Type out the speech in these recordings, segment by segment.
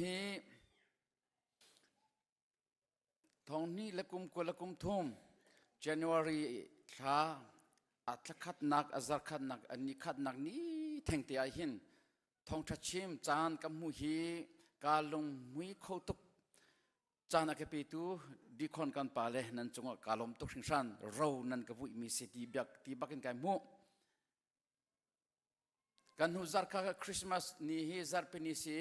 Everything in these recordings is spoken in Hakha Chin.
Hi thonghni le kum kul le kum thum January thla a thlakhatnak a zarkhatnak a ni khatnak ni thengte ah hin thongtha chim caan ka hmu hi ka lungmui kho tuk caan a ka petu dikhon kan pa le nan cungah ka lom tuk hringhran ro nan ka vui mi si ti bak ti bakin kai mu kan hnu zarka ka christmas ni hi zarpini si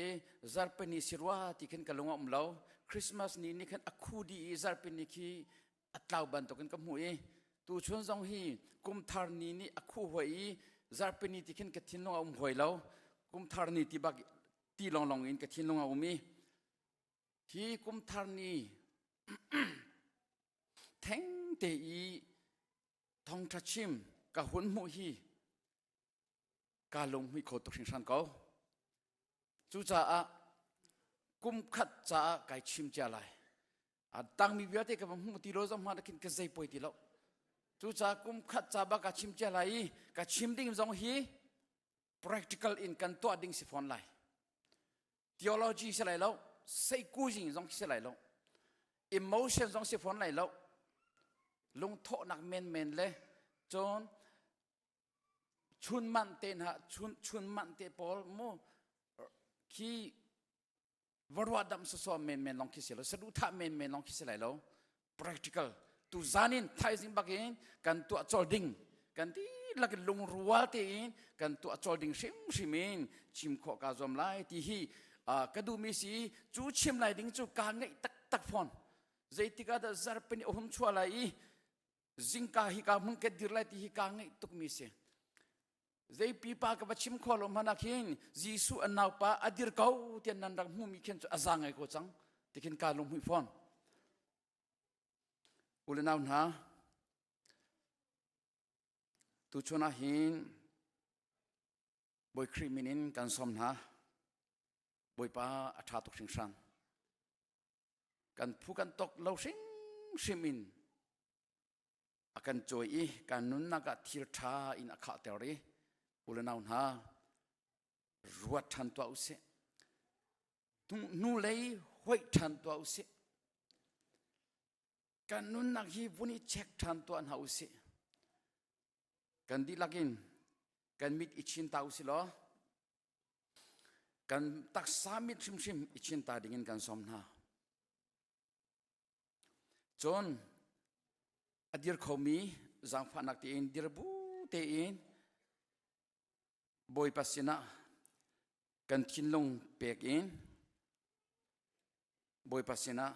zarpini si rua ti khin ka lung a um lo christmas ni ni khan a khu di i zarpini khi a tlau bantuk in ka hmu i tu chun zong hi kumthar ni ni a khu hoi i zarpini ti khin ka thinlung a um hoi lo kumthar ni ti bak ti long long in ka thinlung a um i hi kumthar ni theng te i thongtha chim ka hun hmuh hi ka lungmi kho tuk hringhran ko cucaah kum khat caah kai chim cia lai a tangmi vialte ka hmuh ti lo zong hma nakin ka zei poi ti lo cucaah kum khat ca ba ka chim cia lai i ka chim ding zong hi practical in kan tuah ding si fawn lai theology si lai lo seikuzing zong si lai lo emotion zong si fawn lai lo lungthawhnak menmen le cun chun man te na chun chun man te pawl mu khi va ruah dam sasawm menmen long khi si lo saduh thah menmen long khi si lai lo practical tu zanin thaizing bakin kan tuah chol ding kan ti lakin lungrual tein kan tuah chol ding hrim hrim in chim khawh ka zuam lai ti hi ka duhmi si cu chim lai ding cu ka ngeih taktak phone zeitika da zarpeni ohum chua lai i zingka hi ka mun ke dir lai ti hi ka ngeih tukmi si zei pipa ka va chim kho lo hmana khin Jesu an naupa a dir ko tian nan rak hmumi khin cu aza ngai ko cang tikhin ka lung hui phon ule nau hna tu chuna hin boi kri min in kan som hna boipa a tha tuk hring hrang kan phu kan tok lo hrimhrim in a kan cawi i kan nunnak ah thil ṭha in a khahter i u le nau hna ruat ṭhan tuah u sih hnu lei hoih ṭhan tuah u sih kan nunnak hi vun i check ṭhan tuah hna u sih kan dihlak in kan mit i chin ta u si law kan taksa mit hrimhrim i cinta dingin kan som hna cun a dir khomi zaangfahnak tein dir bu tein bawipa sinah kan thinlung pek in bawipa sinah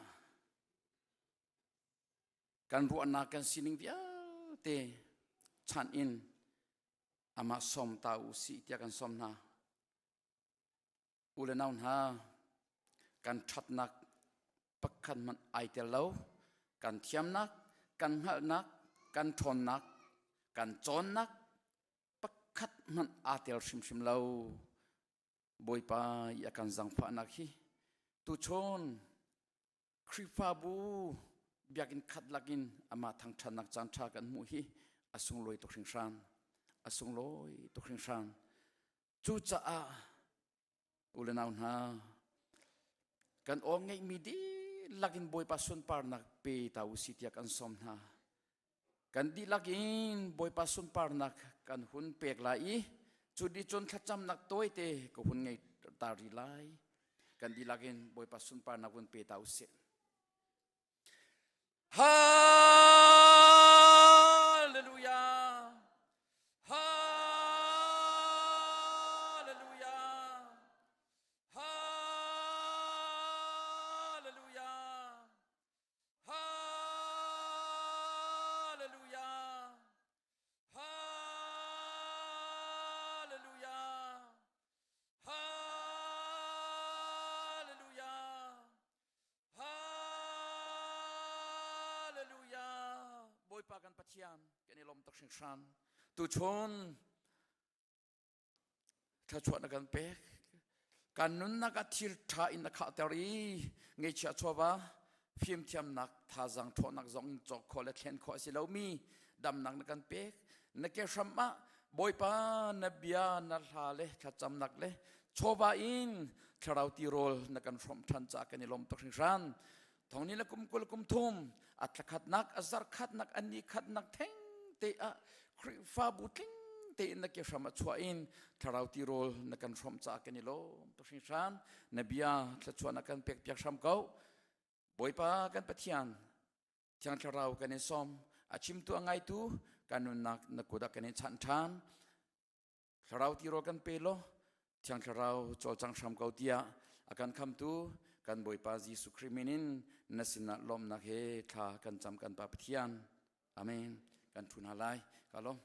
kan ruahnak kan sining vialte chanh in amah som ta u si tiah kan som hna u le nau hna kan ṭhatnak pakhat hmanh ai tel lo kan thiamnak kan hngalhnak kan ṭhawnnak kan cawnnak pakhat hmanh aa tel hrimhrim lo bawipa i a kan zangfahnak hi tuchun Khrihfabu biakinn khat lakin amah thangṭhatnak caanṭha kan hmuh hi a sunglawi tuk hringhran. A sunglawi tuk hringhran. Cucaah u le nau hna, kan aw ngeihmi dihlak in Bawipa sunparnak pe ta u si tiah kan sawm hna. kan dihlak in bawipa sunparnak kan hun pek lai i cu dicun thlacamnak tawite ka hun ngei ta ri lai kan dihlak in bawipa sunparnak hun pe ta usih Hallelujah Hallelujah Hallelujah Hallelujah! Hallelujah! Hallelujah! Hallelujah! Bawipa kan Pathian kan i lawm tuk hringhran. Tu chun thluachuah na kan pek kan nunnak ah thil ṭha in na khahter i ngeichia chuava fimthiamnak thazang ṭhawhnak zong in cawk khawh le thlen khawh a si lomi damnak na kan pek na ke hram ah bawipa na bia na hla le thlacamnak le chawva in thlarau ti rawl na kan hrawm ṭhan ca kan i lawm tuk hringhran thongni le kum kul kum thum a tlakhatnak a zarkhatnak a ni khatnak theng te ah khrihfabu tling tein na ke hram a chuah in thlarau ti rol na kan hrom ca kan i lom to hring hran na bia thlachua na kan pek piak hram ko bawipa kan pathian thiang thlarau kan in som a chimtu a ngaitu kanunnak na kuda kan in chan than thlarau ti rawl kan pe law thiang thlarau cawlcang hram ko tiah a kan khamtu kan bawipa jesu khrih min in na sinah lawmnak he thla kan cam kan pa pathian amen kan thun ha lai ka lawm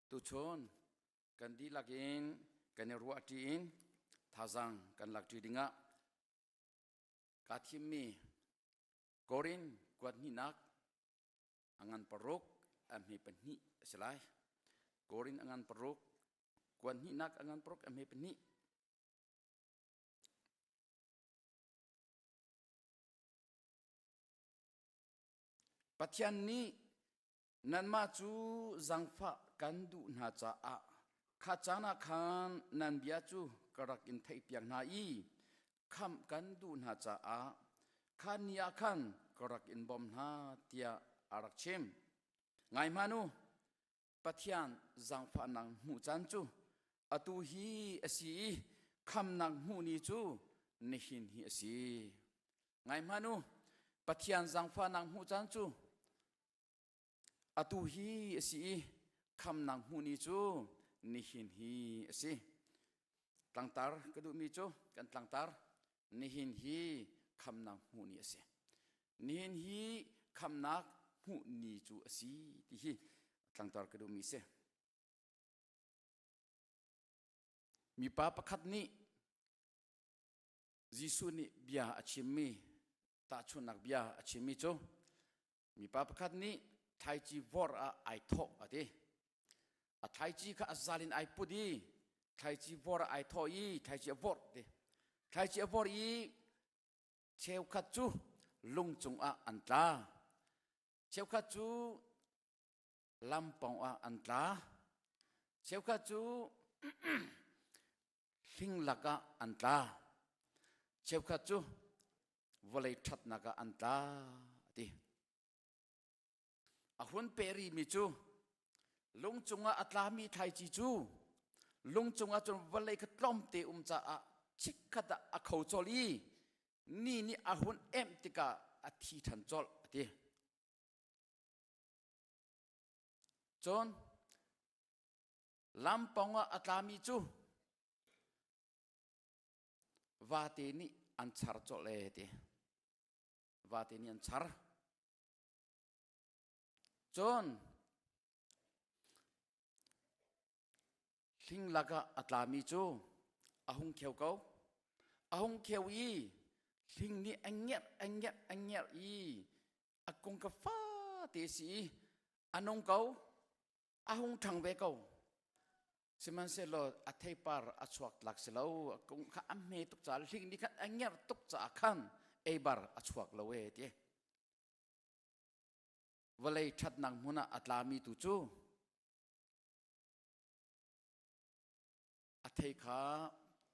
Tuchun kan dihlak in kan i ruahṭi in thazaang kan lakṭi dingah kaa thimmi Korin kuat hnihnak a ngan paruk a hme pahnih a si lai. Korin a ngan paruk, kuat hnihnak a ngan paruk a hme pahnih. Pathian nih nanmah cu zangfah kan duh hna caah kha caan ah khan nan bia cu ka rak in theihpiak hna i khamh kan duh hna caah khan ni ah khan ka rak in bawm hna tiah a rak chim. Ngai hman u, Pathian zangfahnak hmuh caan cu atu hi a si i khamnak hmuh ni cu nihin hi a si. Ngai hman u, Pathian zangfahnak hmuh caan cu atu hi a si i khamnak hmuh ni cu nihin hi a si tlangtar ka duhmi cu kan tlangtar nihin hi khamnak hmuh ni a si nihin hi khamnak hmuh ni cu a si ti hi tlangtar ka duhmi si mipa pakhat nih Jesuh nih bia a chimmi tahchunhnak bia a chimmi cu mipa pakhat nih thlaici vor ah ai thawh a ti a thlaici kha a zal in ai put i thlaici vor ah ai thawh i thlaici a vor ti thlaici a vor i cheukhat cu lung cung ah an tla cheukhat cu lam pong ah an tla cheukhat cu hling lak ah an tla cheukhat cu vawlei ṭhatnak ah an tla a ti a hun pe ri mi cu lung cungah a tlami thlaici cu lung cungah cun vawlei kha tlawmte um caah chikkhat ah a kho cawlh i ni nih a hun emh tikah a thi ṭhan cawlh a ti Cun lampong ah a tlami cu vate nih an char cawlh e ti. Vate nih an char. Cun Hling lakah a tlami cu a hung kheo ko. A hung kheo i hling nih a ngerh, a ngerh, a ngerh i a kung ka fa te si i a nung ko. A hung ṭhang ve ko. Sihmanhsehlaw a theipar a chuak tlak si lo. A kung kha a hme tuk caah hling nih khan a ngerh tuk caah khan eibar a chuak lo e ti. Vawlei ṭhatnak hmun ah a tlami tu cu A thei kha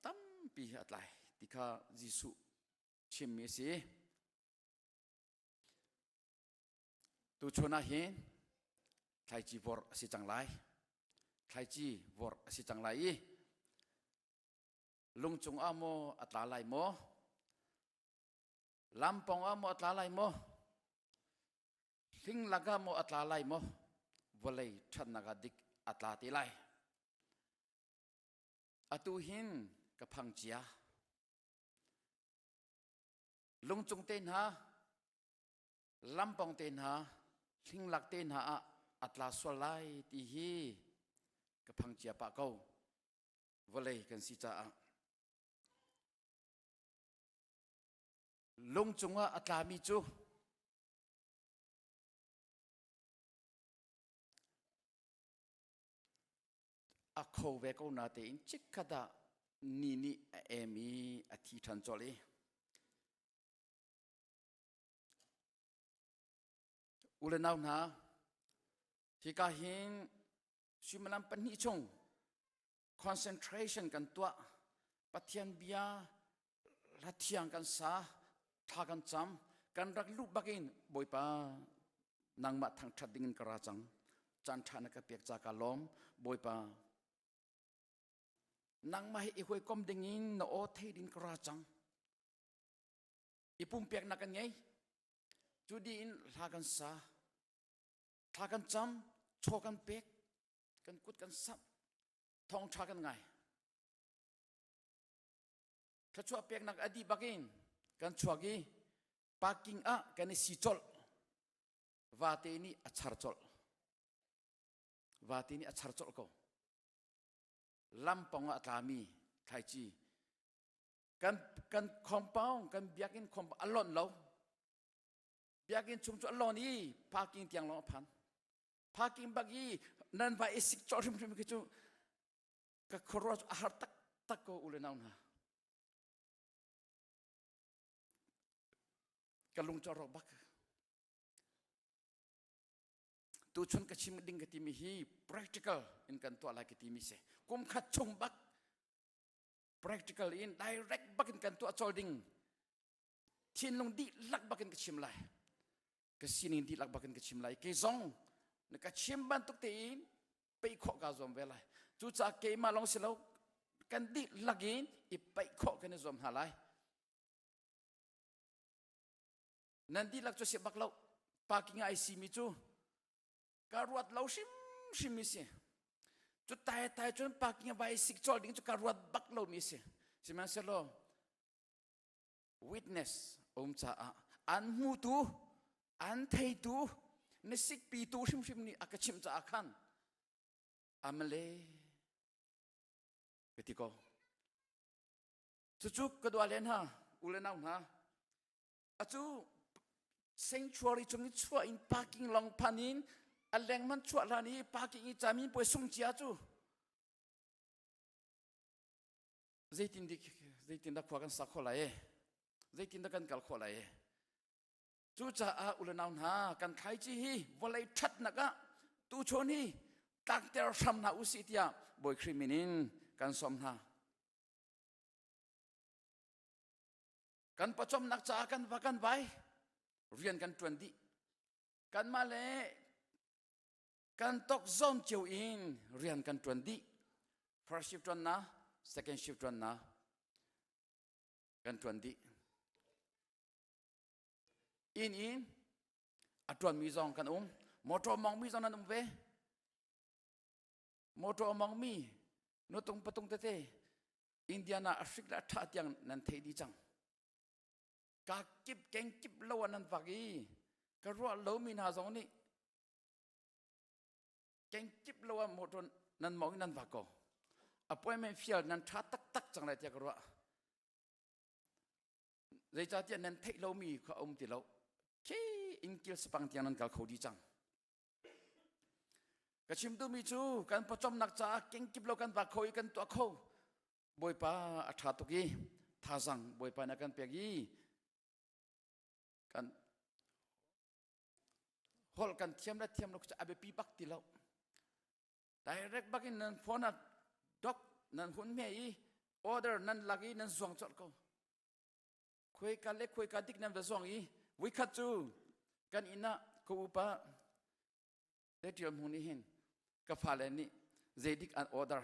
tampi he a tlai ti kha Jesuh chimmi a si. Tuchun ah hin thlaici vorh a si cang lai. Thlaici vorh a si cang lai i lungcung ah maw a tla lai maw? lampong ah maw a tla lai maw hlinglak ah maw a tla lai maw vawlei ṭhannak ah dik a tla te lai atu hin ka phang cia lungcung te hna lampong te hna hlinglak te hna ah a tla sual lai ti hi ka phang cia pah ko vawlei kan si caah Lung cungah a tlami cu a kho ve ko na tein chikkhat ah ni nih a em i a thi ṭhan colh i u le nau hna hika hin suimilam pahnih chung concentration kan tuah pathian bia hla thiang kan sa thla kan cam kan rak luh bakin bawipa nangmah thangthat dingin ka ra cang chan tha na ka pek ca ka lom bawipa nangmah hi i huikom dingin na o thei din ka ra cang i pumpek na kan ngei cu di in hla kan sa thla kan cam chaw kan pek kan kut kan samh thawngtha kan ngai thluachuah peknak a dih bakin kan chuak i parking ah kan i si colh vate nih a char colh vate nih a char colh ko lampong ah a tlami thlaici kan kan khompaung kan biakinn khompaung a lonh lo biakinn chung cu a lon i parking tiang lawng a phan parking bak i nan va i sik cawh hrimhrim khi cu ka khuaruah cu a har tak tak ko ule nau hna ka lung cawh rawk bak tuchun ka chim ding ka timi hi practical in kan tuah lai ka timi se kum khat chung bak practical in direct bak in kan tuah chol ding thinlung dih lak bak in ka chim lai ka sining dihlak bak in ka chim lai ke zong na ka chim bantuk tein peih khawh ka zuam ve lai cucaah keimah lawng si lo kan dihlak in i peih khawh kan i zuam hna lai nan dihlak cu si bak lo parking ai si mi cu ka ruat lo hrim hrim mi si cu tai tai cun parking vai sik chol ding cu ka ruat bak lo mi si sihmanhsehlaw witness um caah an hmutu an theitu na sikpi tu hrimhrim nih a ka chimh caah khan amale ka ti ko cucu ka dua len ha u le nau hna acu sanctuary chung i chuah in parking long phan in a lengman chuah hlan i parking i cami puai sung cia cu zeitindah khua kan sa khawh lai zeitindah kan kal khawh lai cucaah ulenau hna kan khaici hi vawlei ṭhatnak ah tuchon hi tlakter hram hna u si tiah bawi khrih min in kan som hna kan pawcawmnak caah kan va kan vai rian kan ṭuan dih kanmah le kan tok zom cio in rian kan tuan dih first shift tuan na second shift tuan na kan tuan dih in in a tuanmi zong kan um motor mongmi zong nan um ve motor mongmi nu tung patung tete Indian ah Afrik le atha tiang nan thei di cang ka kip keng kip lo an nan vak i ka ruah lomi hna zong nih Kengkip lo ah motor nan mau in nan vak ko. Appointment field nan tha taktak cang lai tiah ka ruah. Zeicahtiah nan theih lomi kha a um ti lo. Khi ingkil sepang tiang nan kal kho di cang. Ka chim mi cu kan pawcomnak caah kengkip lo kan vak kho i kan tuah kho. Bawipa a tha tuk i thazang bawipa na kan pek i kan holh kan thiam le thiam lo cu a biapi bak ti lo direct bak in nan phone ah dok nan hun me i order nan lak i nan zuang colh ko khuai ka le khuai ka dik nan va zuang i voikhat cu kan inn ah ka upa te ṭial hmu nih hin ka fale nih zeidik an order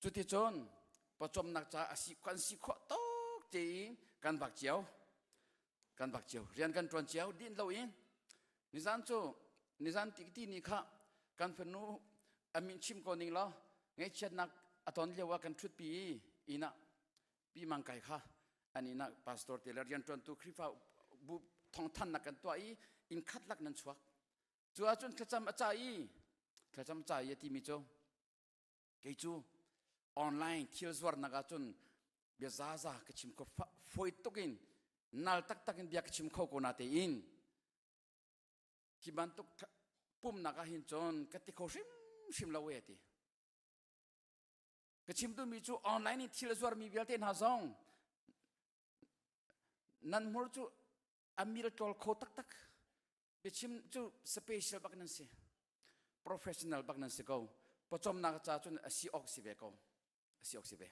Cuticun pawcawmnak ca a si kan si khawh tok te i kan vak cio kan vak cio rian kan ṭuan cio din lo i nizan cu nizan tikiti ni kha kan fanu a min chim ko ning law ngaihchiatnak a ton lio ah kan ṭhutpi i innah pi mang kai kha an innah pastor te le rianṭuantu Khrihfa bu thawngthannak kan tuah i inn khat lak nan chuak cu ahcun thlacam a ca i thlacam ca i a timi cu kei cu online thil zuarnak ahcun bia zaza ka chim kho foi tuk in nal taktak in bia ka chim kho ko na tein hi bantuk pumnak ah hin cun ka ti kho hrimhrim lo e ti ka chim mi cu online in thil zuarmi vialte hna zong nan hmur cu a mil tlol kho taktak biachim cu special bak nan si professional bak nan si ko pawcomnak ca cun asi awk si ve ko asi awk si ve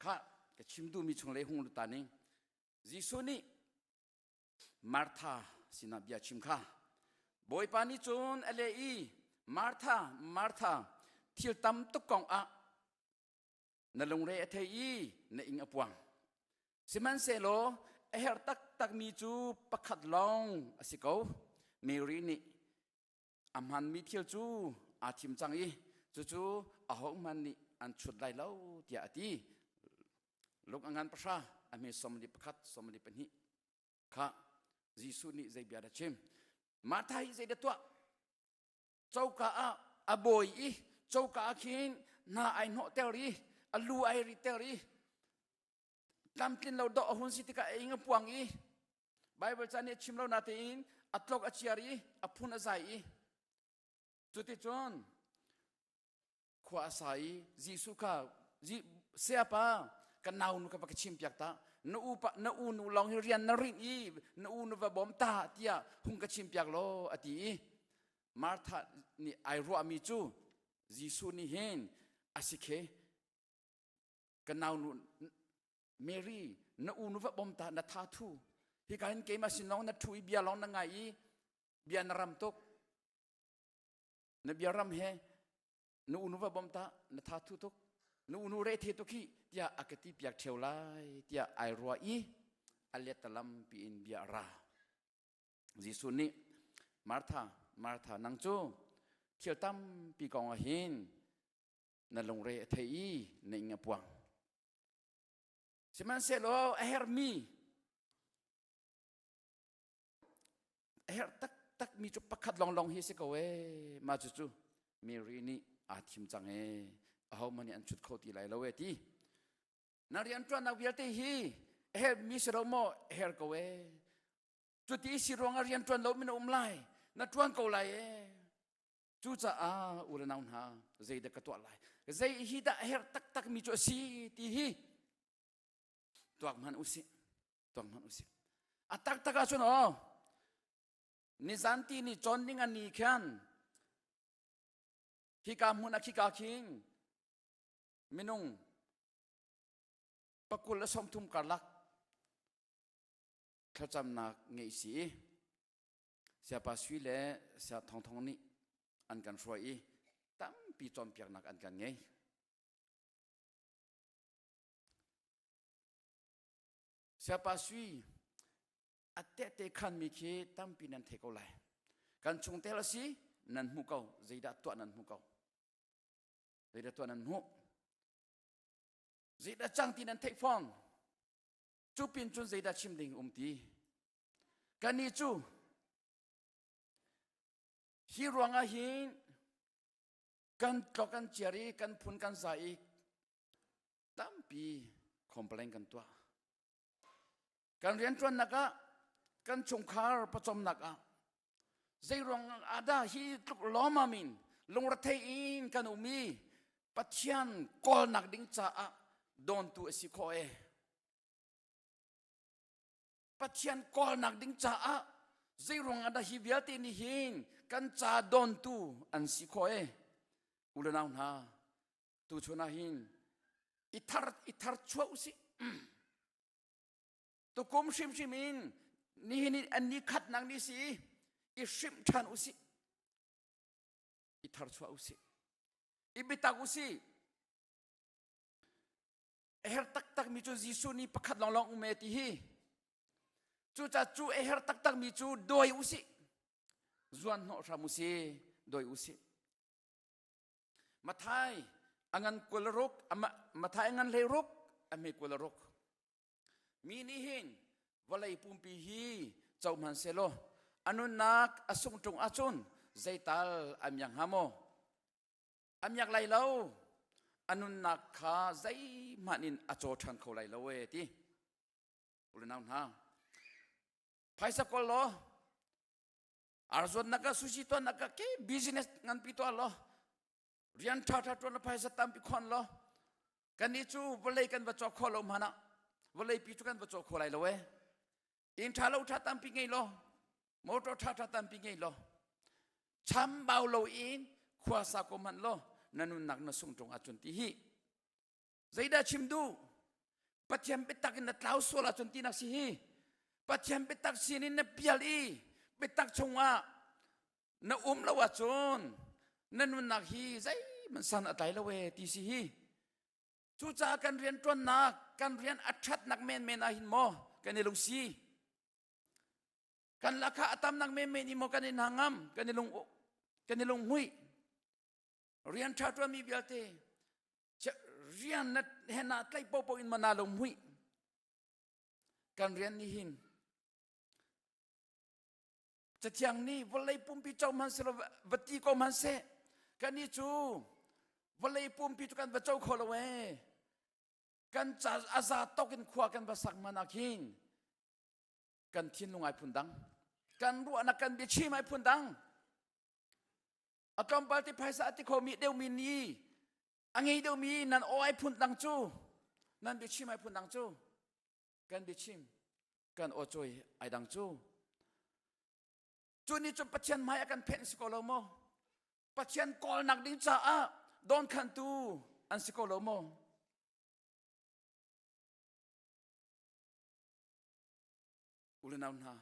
kha ka chim duhmi chung le hung luta ning Jesuh nih Martha sinah bia chim kha Bawipa nih cun a le i Martha Martha thil tam tuk kong ah na lungre a thei i na ing a puang sihmanhsehlaw a herh taktakmi cu pakhat lawng a si ko Mary nih a hmanmi thil cu aa thim cang i cucu ahohmanh nih an chut lai lo tiah a ti luk a ngan pahra a hme somali pakhat somali pahnih kha Jesuh nih zei bia a chim Martha hi zeidah tuah coka ah a bawi i coka ah khin na ai hnawhter i a lu ai riter i tlamtlin lo dawh a hun si tikah a ing a puang i Baibal caan nih a chim lo natein a tlok a ciar i a phun a zai i cuticun khua a sa i Jesuh kha sayapa kan nau nu ka va ka chim piak ta na u na u nu lawng hi rian na rinh i na u nu va bawm ta tiah hung ka chim piak law a ti i Martha nih ai ruahmi cu Jesuh nih hin a si khe ka nau nu Mary na u nu va bawm ta na tha thu hi ka hin keimah sin lawng na thu i bia lawng na ngai i bia na ram tuk na biaram he na unu va bom ta na tha thu tuk na unu re the tuk hi tiah a ka ti piak theo lai tiah ai rua i a let talam pi in bia ra Jesuh nih Martha Martha nang cu thil tam pi kong ah hin na lungre a thei i na ing a puang sihmanhsehlaw a hermi A herh taktak mi cu pakhat lawnglawng hi si ko ee. Ma cu cu Mary nih aa thim cang ee. Aho man nih an chut kho ti lai lo ee ti. Na rian tuannak vialte hi a her mi si lo maw a her ko ee. Cu ti si ruangah rian tuan lo mi na um lai. Na tuan ko lai ee. Cucaah u le nau hna zeidah ka tuah lai zei hi dah a herh taktak mi cu a si ti hi tuak hman u sih tuang hmanh usih a taktak ah cun aw nizan ti ni chon ding a ni khan khika hmun a khika khing minung pakul a song thum karlak thlacamnak ngei si siapa sui le sia thong thong nih an kan hruai i tampi cawmpiaknak an kan ngei Siapa sui a tehte khanmi khi tampi nan thei ko lai. Kan chungtel a si nan hmu ko. Zeidah tuah nan hmu ko. Zeidah tuah nan hmu. Zeidah cang ti nan theih fong. Cu pin cun zeidah chim ding um ti. Kan ni cu hi ruangah hin kan tlo kan ciar i kan phun kan za i tampi complain kan tuah kan rianṭuannak ah kan chungkhar pawcawmnak ah zeiruang ahdah hi tluk lawmam in lungrethei in kan um i pathian kawlnak ding caah dawntu a si khawh e pathian kawlnak ding caah zeiruang ahdah hi vialte nih hin kan ca dawntu an si khawh e unau hna tuchun ah hin ithar ithar chuah usih tukum hrimhrim in nihin an ni khatnak ni si i hrim ṭhan usih i thar chuah usih i bitak usih a her taktak mi cu Jesuh ni pakhat long long ume ti hi cu ca cu a her taktak mi cu doi usih zuan hnawh hram usih doi usih Mathai a ngan kual ruk Mathai ngan hlei ruk a hme kual ruk mi nih hin vawlei pumpi hi co hman selaw a nunnak a sung ṭung ahcun zeital a miak hnga maw a miak lai lo a nunnak kha zeihmanh in a caw ṭhan kho lai lo e ti unau hna phaisa kol law arzuan naka sushi to naka ke business ngan pi to lo rian tha tha ton phaisa tam pi khon lo kan ni chu vlei kan va cho kho lo mana vlei pi chu kan va cho kho lai lo e in tha lo tha tam pi ngei lo motor tha tha tam pi ngei lo cham bau lo in khua sa ko man lo nanun nak na sung tong a chun ti hi Zeidah chim duh? Pathian biatak in na tlau sual ahcun tinak si hi. Pathian biatak sin in na pial i biatak chungah na um lo ahcun na nunnak hi zeihman san a tlai lo e ti si hi. Cucaah kan rian ṭuannak, kan rian a ṭhatnak menmen ah hin maw kan i lungsi. Kan lakha a tamnak menmen i maw kan i nangam, kan i lung kan i lung hui. Rian ṭha ṭuanmi vialte rian na hen ah tlaih popo in mana lo mui kan rian ni hin cathiang ni vawlei pumpi co man se lo va ti ko man se kan ni cu vawlei pumpi cu kan va co kho lo e kan ca aza tok in khua kan va sak mana khin kan thin lungai phun dang kan ruahnak kan bia chim ai phun dang a tlawmpal ti phaisa a ti khomi deuhmi ni a ngei deuhmi nan awai phun dang cu nan biachim ai phun dang cu kan biachim kan awcawi ai dang cu cu ni cun pathian hmai a kan phenh si ko lo maw pathian kawlnak ding caah dawnkhantu an si ko lo maw ulenau hna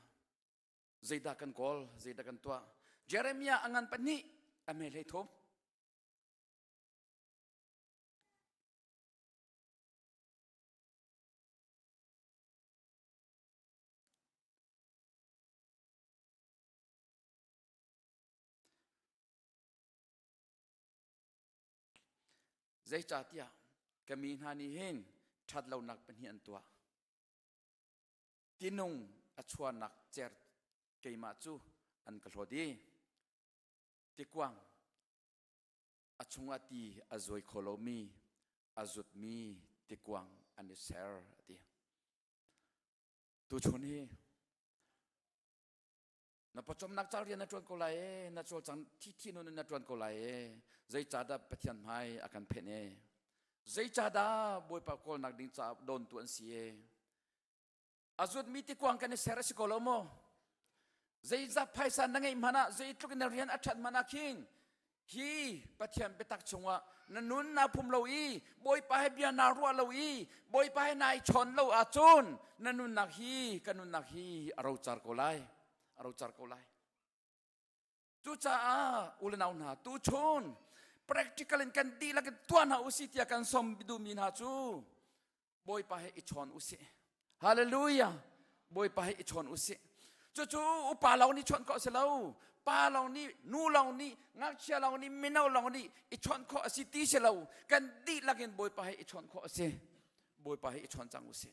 zeidah kan kawl zeidah kan tuah jeremiah a ngan pahnih a mehlei thum zeicahtiah ka mi hna nih hin ṭhat lonak pahnih an tuah tinung a chuanak cer keimah cu an ka hlawt i tikuang a chungah ti a zuai kho lomi a zutmi tikuang an i ser a ti tuchun hi na pawcawmnak cal rian na ṭuan ko lai e na cawlcang thi thi nun in na ṭuan ko lai e zeicahdah pathian hmai a kan phenh e zeicahdah bawipa kawlnak ding caah dawntu an si e a zuatmi tikuang kan i ser a si ko lo maw zeizat phaisa na ngeih hmanh ah zeitluk na rian a ṭhat hmanh ah khin hi pathian biatak chungah na nun naa phum lo i bawipa he bia naa ruah lo i bawipa he nai chawn lo ahcun na nunnak hi ka nunnak hi a rocar ko lai a rocar ko lai Cucaah unau hna tuchun practical in kan dihlak in tuah hna usih tiah kan som duhmi hna cu Bawipa he i chawn usih. Hallelujah. Bawipa he i chawn usih. Cucu upa lo nih chawnh ko si lo, pa lo nih, nu lo nih, ngakchia lo nih, mino lo nih i chawnh khawh a si ti si lo, kan dihlak in Bawipa he i chawnh khawh a si. Bawipa he i chawn cang usih.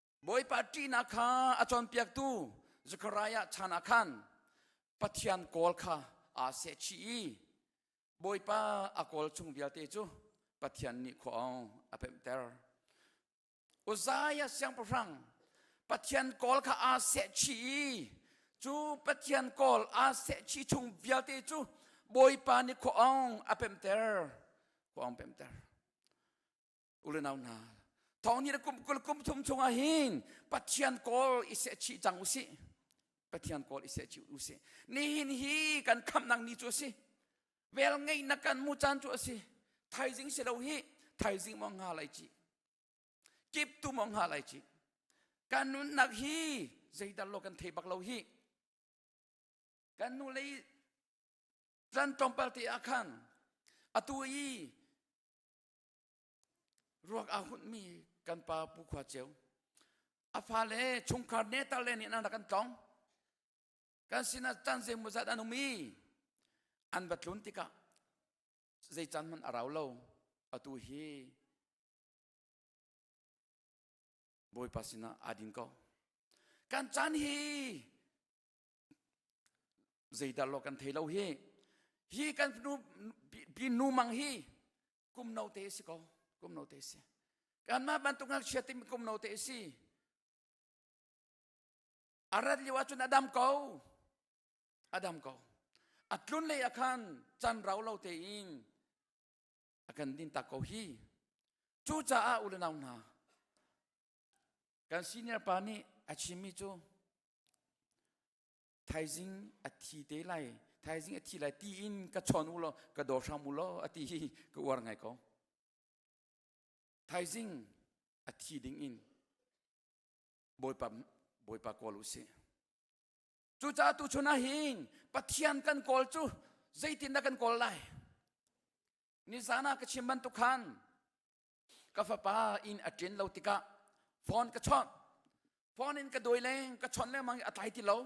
Bawipa ṭihnak kha a cawnpiaktu Zekhariah chan ah khan Pathian kawl kha aa sehchih i Bawipa a kawl chung vialte cu Pathian nih khua a pemhter. Uzziah siangpahrang Pathian kawl kha aa sehchih i cu Pathian kawl aa sehchih chung vialte cu Bawipa nih khua a pemter. Khua pemter. ulenau hna thong ni na kum kul kum thum chungah hin pathian kawl i se chi cang u si pathian kawl i se chi u si nihin hi kan khamnak ni cu a si vel ngeihnak kan mu caan cu a si thaizing si lo hi thaizing mong ha lai ci kip tu mong ha lai ci kan nunnak hi zeidar lo kan thei bak lo hi kan nu lei ran tlawmpal te ah khan atu i ruak a hunmi kan pa pu khua ceu a fale chungkhar netar le nih an rak an tlong kan sinah chan zeimaw zat an um i an va tlun tikah zei chan hmanh a rau lo atu hi bawipa sinah aa din ko kan chan hi Zeidah lo kan thei lo hi. Hi kan nu pi nu mang hi kum no te si ko. Kum no te si. Kanmah bantuk ngakchia tim kum no te si. Arat liu ahcun adam ko. Adam ko. Atlun lei akhan chan rau lo te in akan din ta ko hi. Cu caah ulenau hna kan senior pa nih a chimmi cu Thaizing a thi te lai, thaizing a thi lai tiin ka chawn u law, ka daw hram u law a ti hi ka uar ngai ko. Thaizing a thi ding in Bawipa, Bawipa kawl u si. Cucaah tuchun ah hin Pathian kan kawl cu zeitindah kan kawl lai? Nizan ah ka chim bantuk khan ka fapa inn a ṭen lo tikah phone ka chawnh phone in ka dawi leng ka chawnh lengmang i a tlai ti lo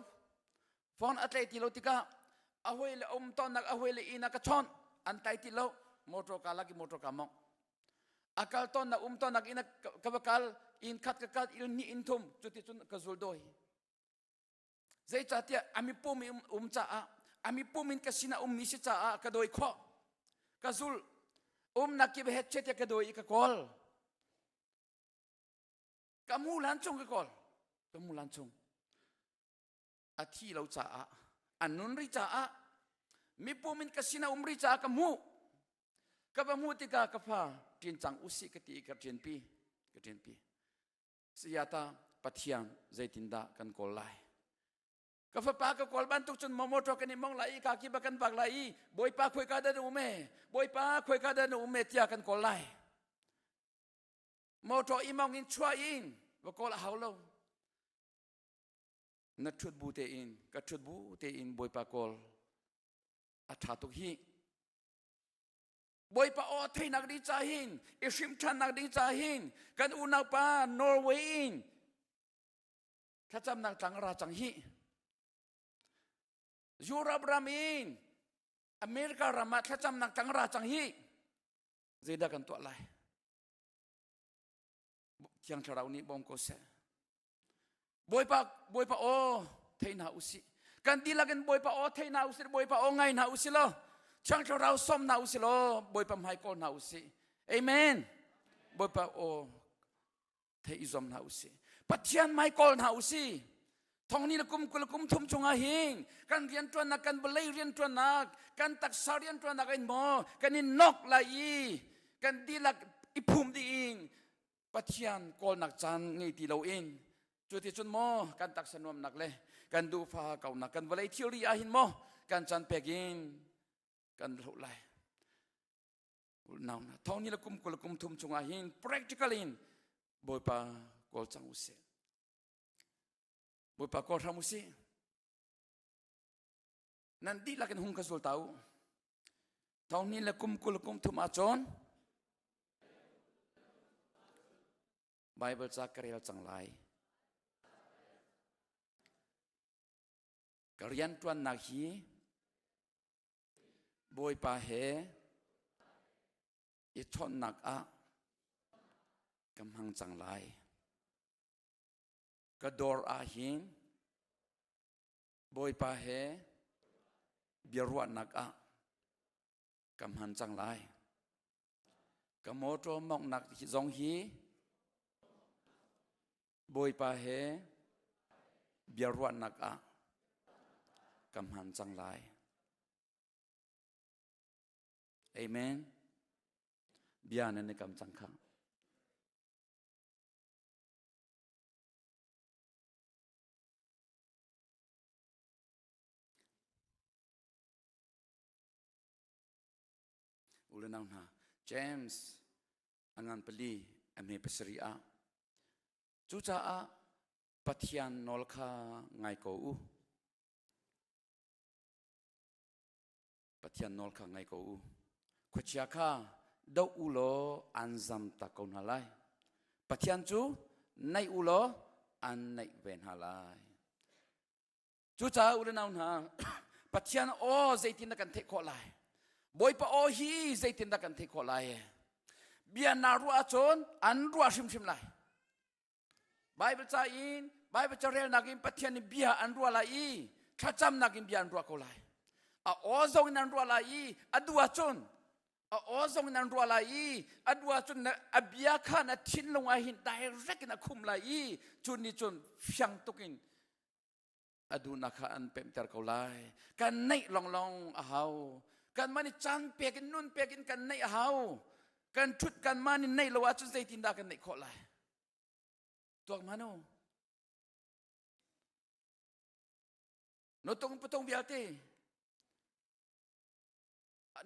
phone a tlai ti lo tikah a hoi le um tonnak a hoi le inn ah ka chawnh an tlai ti lo motor ka lak i motor ka mong a kal tonnak um tonnak inn ka va kal inn khat ka kal inn hnih inn thum cuti cun ka zul dawi Zeicahtiah a mipum in um caah a mipum in ka sinah ummi si caah ka dawi khawh. Ka zul um nakip he chet ka dawi i ka kawl. Ka mu lan chung ka kawl. Ka mu lan chung. A thi lo caah an nun ri caah mipum in ka sinah um ri caah ka mu. Ka va mu tikah ka fa ṭin cang usih ka ti i ka ṭin pi. Ka ṭin pi. Sayata Pathian zeitindah kan kawl lai? Ka fapa ka kawl bantuk cun motor kan i mong lai i ka kiba kan vak lai i bawipa khuai ka da na ume bawipa khuai ka da na ume tiah kan kawl lai. Motor i mong in chuah in va kawl a hau lo. Na ṭhut bu tein ka ṭhut bu tein bawipa kawl a ṭha tuk hi Bawipa aw theinak ding ca hin i hrim ṭhannak ding ca hin kan unaupa Norway in thlacamnak tlang a ra cang hi. Europe ram in America ram ah thlacamnak tlang ra cang hi zeidah kan tuah lai? Thiang Thlarau nih bawm ko seh. Bawipa Bawipa aw thei hna usih kan dihlak in Bawipa aw thei hna usih Bawipa aw ngai hna usih law Thiang Thlarau som hna usih law Bawipa hmai kawl hna usih Amen Bawipa aw thei i zom hna usih Pathian mai kawl hna usih thongni le kum kul kum thum chungah hin kan rian tuannak kan bolei rian tuannak kan taksa rian tuannak in maw kan in nok lai i kan dilak i phum ding Pathian kawlnak caan ngei ti loin cu ti cun maw kan taksa nuamnak le kan duhfa kaunak kan vawlei thilri ah hin maw kan can pek in kan hloh lai unau na thawni le kum kul kum thum chungah hin practical in bawipa kawl cang usih bawipa kawl hram usih nan dihlak in hung ka zul tau thongni le kum kul kum thum ahcun Bible ca ka rel cang lai ka rianṭuannak hi Bawipa he i chawnhnak ah ka hmang cang lai ka dawr ah hin Bawipa he biaruahnak ah ka hman cang lai. Ka mawṭaw mawngnak zong hi Bawipa he biaruahnak ah ka hman cang lai. Amen. Bia nan kam cang khang. U le nau hna, James a ngan pali a hme pasarih ah. Cucaah Pathian nawl kha ngai ko u. Pathian nawl kha ngai ko u. Khuachia kha doh u law an zam tak ko hna lai. Pathian cu naih u law an naih ve hna lai. Cucaah ulenau hna, Pathian aw zeitin na kan theih khawh lai? Bawipa aw hi zeitin dah kan theih khawh lai? Bia na ruah ahcun an ruah hrimhrim lai. Baibal ca in Baibal carelnak in Pathian nih bia an ruah lai i thlacamnak in bia an ruah ko lai. A aw zong in an ruah lai i a du ahcun a aw zong in an ruah lai i a du ahcun a bia kha na thinlung ah hin direct in a khum lai i cun ni cun fiang tuk in a duhnak kha an pemhter ko lai kan neih lawnglawng a hau kanmah nih caan pek in nun pek in kan neih a hau kan ṭhut kanmah nih neih lo ahcun zeitindah kan neih khawh lai tuak ma nu no tung patung vialte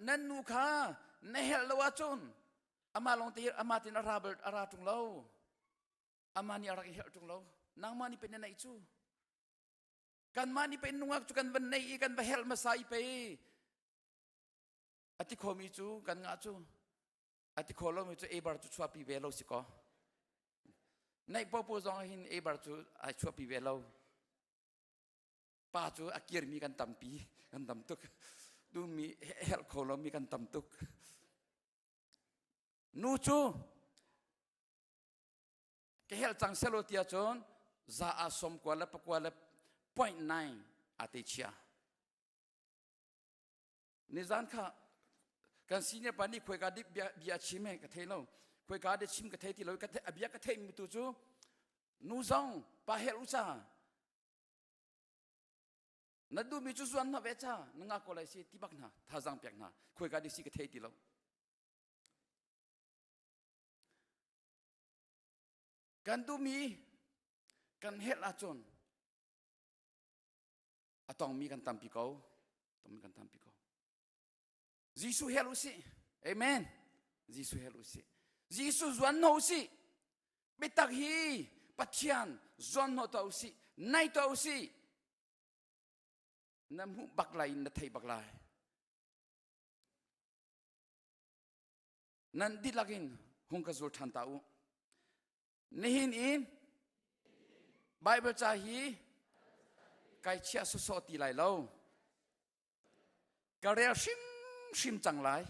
nan nu kha na helh lo ahcun amah lawng te amah tin a ra tung lo Amah nih a rak i herh ṭung lo. Nangmah nih pein na neih cu. Kanmah nih pein nungak cu kan van nei i kan va helh hmasa i pei a ti khomi cu kan ngah cu a ti kho lomi cu ebar cu chuahpi ve lo si kaw naih popo zong hin ebar cu ai chuahpi ve lo pa cu a kirmi kan tampi kan tam tuk dumi herh kho lomi kan tam tuk nu cu ka helh cang selo ti ahcun za a som kua le pakua le point nine a te chia nizan kha kan senior pa nih khuaika dik bia, bia chim he ka thei lo khuaika de chim ka thei ti lo ka a bia ka thei mi tu cu nu zong pa hel u ca na du mi cu zuan na ve ca na nga ko lai si ti bak hna thazang pek hna khuaika dik si ka thei ti lo Kan duhmi kan helh ahcun a tongmi kan tampi ko, tong kan tampi ko. Jesuh hel u sih. Amen. Jesuh hel u sih. Jesuh zuan no u sih. Biatak hi Pathian zuan no ta u sih. Nai ta u sih. Na hmuh bak lai, na thei bak lai. nan dihlak in hung ka zul ṭhan ta u nihin in Bible ca hi kai chiah sawsawh ti lai lo ka rel hrimhrim cang lai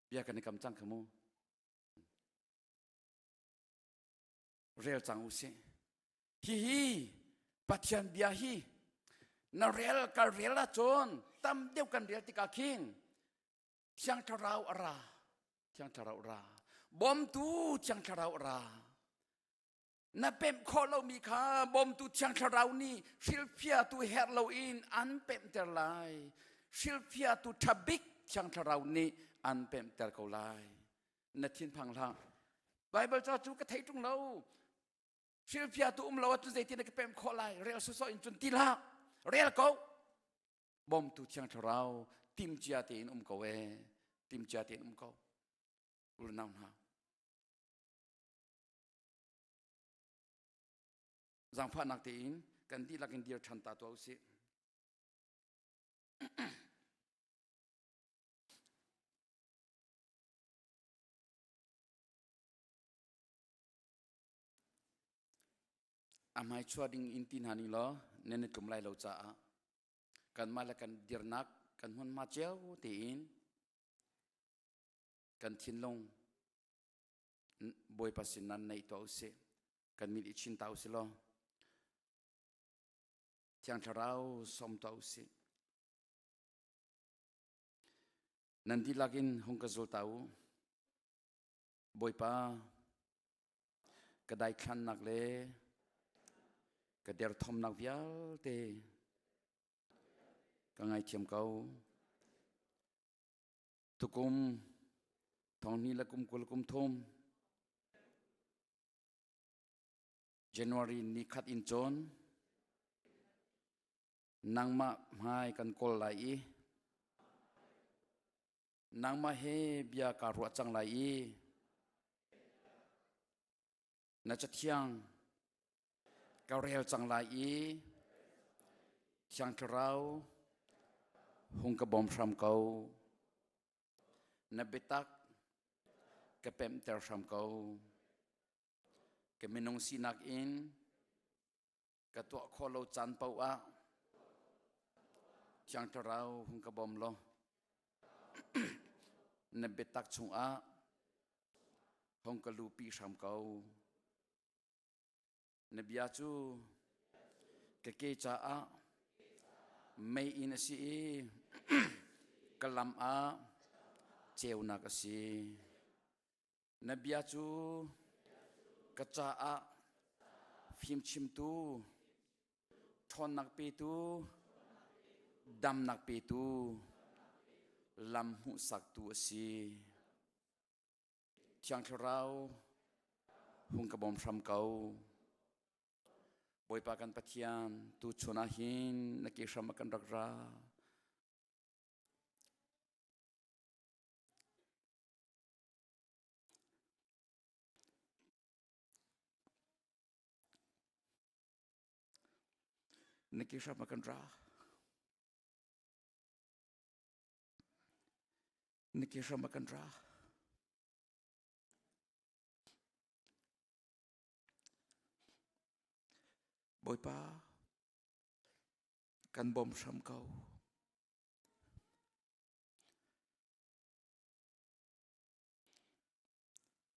bia kan i kam cang kha mu rel cang u sih hihi pathian bia hi na rel ka rel ahcun tam deuh kan rel tikah khin thiang thlarau a ra thiang thlarau ra bawmtu thiang thlarau ra na pemh khawh lomi kha bawmtu thiang thlarau nih hrilhfiatu herh loin an pemhter lai hrilhfiatu thabik thiang thlarau nih an pemhter ko lai na thinphang hlah Baibal ca cu ka thei ṭung lo hrilhfiatu um lo ahcun zeitin na ka pemh khawh lai rel sawsawh in cun ti hlah rel ko bawmtu thiang thlarau timcia tein um ko e timcia tein um ko unau hna zangfahnak tein kan dihlak in dir ṭhan ta tuah usih A hmaichua ding in ti hna ning law nan i tlum lai lo caah kanmah le kan dirnak kan hmunhma cio tein kan thinlung bawipa sin nan neih tuah usih kan mit i chin ta usih law thiang thlarau som tuah usih nan dihlak in hung ka zul ta u bawipa ka daithlannak le ka derthawmnak vialte ka ngaithiam ko tukum thonghni la kum kul kum thum january ni khat in cun nangmah hmai kan kawl lai i nangmah he bia kaa ruah cang lai i na cathiang ka rel cang lai i thiang thlarau hung ka bawm hram ko na biatak ka pemhter hram ko ka minung sinak in ka tuah khawh lo caan paoh ah thiang thlarau hung ka bawm law na biatak chungah hong ka lupi hram ko na bia cu ka ke caah mei in a si i ka lam ah ceunak a si Na bia cu ka caah fimchimtu, ṭhawnnak petu, damnak petu, lam hmuhsaktu a si. Thiang Thlarau, hung ka bawm hram ko. Bawipa kan Pathian, tu chun ah hin na ke hram a kan rak ra. Na ke hram a kan ra. Na ke hram a kan ra. Bawipa, kan bom hram ko.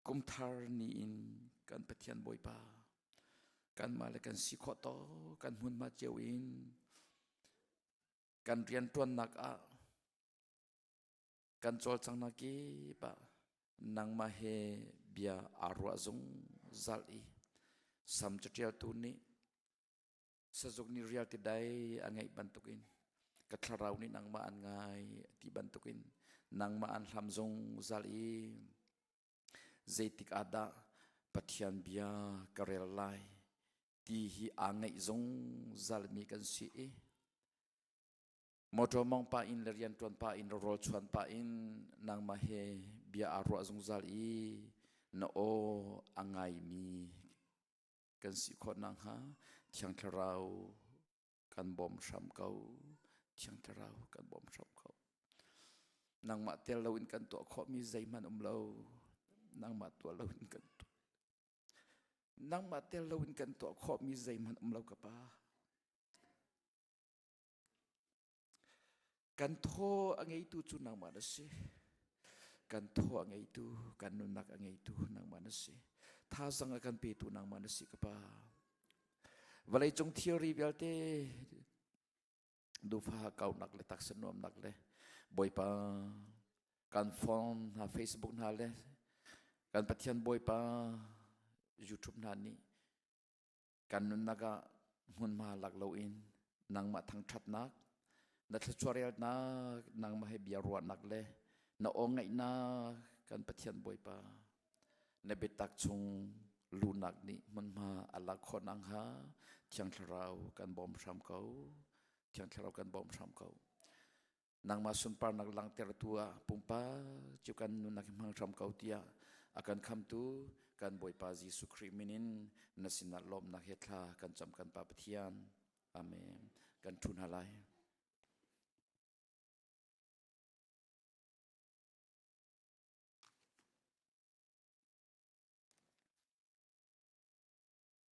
Kumthar ni in kan Pathian Bawipa kanmah le kan si khawh to kan hmunhma cio in kan rianṭuannak ah kan cawlcanghnak kip ah nangmah he bia aa ruah zung zalh i sam caṭialtu nih Sazuk nih rial ti dai an ngaih bantukin ka thlarau nih nangmah an ngai ti bantukin nangmah an hlam zungzal i zeitik ah dah Pathian bia ka rel lai ti hi aa ngaih zungzal mi kan si i motor mong pa in le rian tuan pa in le rawl chuan pa in nangmah he bia aa ruah zungzal i na aw a ngai mi kan si khawt na hnga thiang thlarau kan bom hram ko thiang thlarau kan bom hram ko nangmah tel lo in kan tuah khawh mi zeihman um lo nangmah tuah lo in kan tuah nangmah tel lo in kan tuah khawh mi zeihman um lo ka pa Kan thaw a ngeitu cu nangmah na si. Kan thaw a ngeitu, kan nunnak a ngeitu nangmah na si. Thazang a kan petu nangmah na si ka pa. Vawleicung theory vialte dufa kaunak le taksa nuamnak le bawipa kan phone hna facebook hna le kan pathian bawipa youtube hna nih kan nunnak ah hmunhma lak loin nangmah thangthatnak na thlachuarelnak nangmah he bia ruahnak le na ongaihnak kan pathian bawipa na biatak chung lunak nih hmunhma alak khon ang ha thiang thlarau kan bawm hram ko thiang thlarau kan bawm hram ko nangmah sunparnak langtertu ah pumpak cu kan nunak hmang hram ko tiah a kan khamtu kan Bawipa Jesuh Khrih minin na sinah lawmnak he thla kan cam kan Pa Pathian. Amen. Kan ṭhu hna lai.